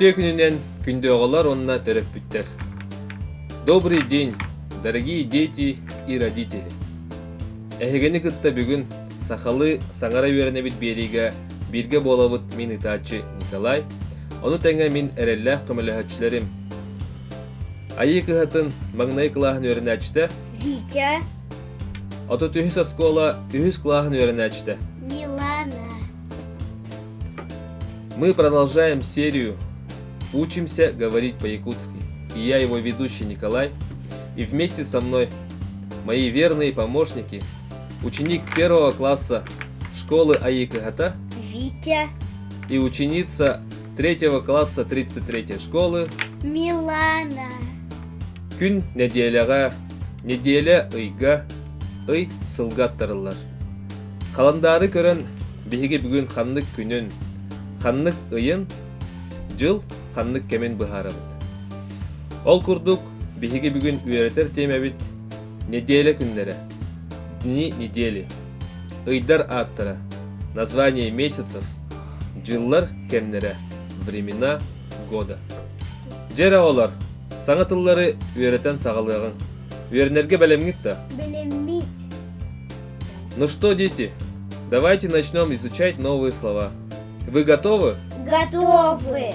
Үтүө күнүнэн күндүөҕалар уонна төрөппүттэр. Добрый день, дорогие дети и родители! Эһигини кытта бүгүн Сахалыы саҥара үөрэнэбит биэриигэ бииргэ буолабыт мин ытааччы Николай, ону тэҥэ мин эрэллээх көмөлөһөөччүлэрим Айыы кыһатын маҥнай кылааһын үөрэнээччитэ Витя, отут үһүс оскуола үһүс кылааһын үөрэнээччитэ Милана, Мы продолжаем серию «Учимся говорить по-якутски» и я его ведущий Николай, и вместе со мной мои верные помощники ученик первого класса школы Аикыхата Витя и ученица третьего класса 33-й школы Милана Күн неделяға неделя ыйга ый сылга аттарыллар. Халандаары көрөн биһиги бүгүн ханнык күнүн, ханнык ыйын, жыл ханнык кэмин быһаарабыт. Ол курдук биһиги бүгүн үөрэтэр тиэмэбит Неделя күннэрэ Дни недели Ыйдар ааттара Название месяцев Дьыллар кэмнэрэ Времена года Дьэр оҕолор, саҥа тыллары үөрэтэн саҕалыаҕыҥ. Үөрэнэргэ бэлэмҥит да? Бэлэммит. Ну что, дети, давайте начнем изучать новые слова. Вы готовы? Готовы.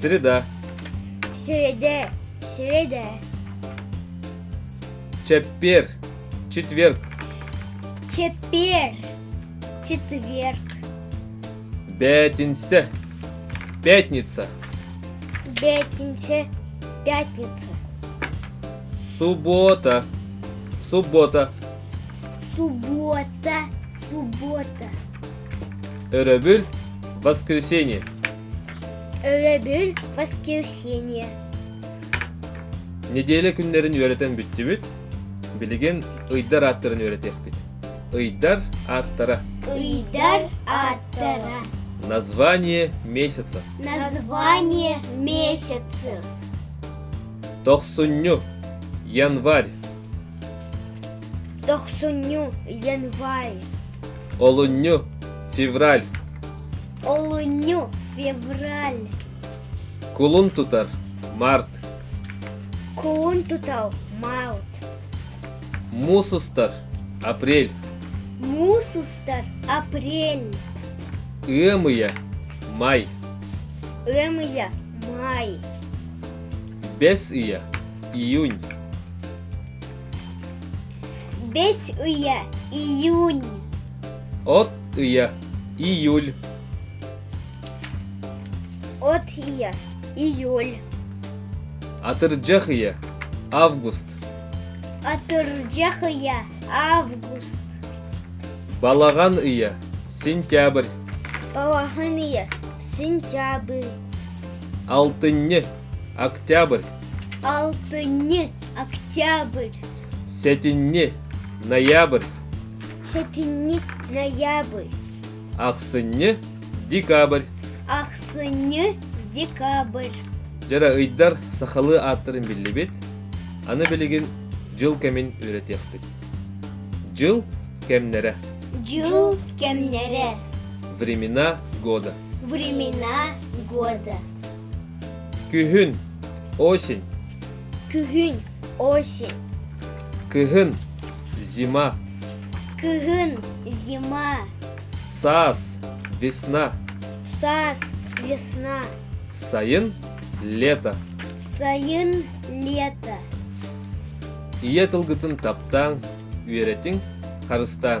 Среда. Среде. Среде. Четверг. Четверг. Четверг. Четверг. Пятница. Пятница. Пятница. Пятница. Суббота. Суббота. Суббота. Суббота. Өрөбүл воскресенье. Өрөбүл воскресенье. Неделя күннэрин үөрэтэн бүттүбүт. Билигин ыйдар ааттарын үөрэтиэхпит. Ыйдар ааттара. Ыйдар ааттара. Название месяца. Название месяца. Тохсунню. Январь. Дохсунньу, январь. Олунню, февраль. Олунню, февраль. Кулун тутар, март. Кулун тутал, март. Мус устар, апрель. Мус устар, апрель. Ымыя, май. Ымыя, май. Бес ыя, июнь бэс ыйа июнь от ыйа июль от ыйа июль атырдьах ыйа август атырдьах ыйа август балаҕан ыйа сентябрь балаҕан ыйа сентябрь алтынньы Октябрь Алтынньы Октябрь Сэтинньи Ноябрь Сэтинньи Ноябрь Ахсынньы Декабрь Ахсынньы Декабрь Дьара ыйдар сахалыы ааттарын биллибит. Аны билигин дьыл кэмин үйрэтиэхпит. Дьыл кэмнэрэ. Дьыл кэмнэрэ. Времена года. Времена года. Күһүн, осень. Күһүн, осень. Кыһын, зима. Кыһын, зима. Саас, весна. Саас, весна. Сайын, лето. Сайын, лето. Ийэ тылгытын таптааҥ, үөрэтиҥ, харыстааҥ.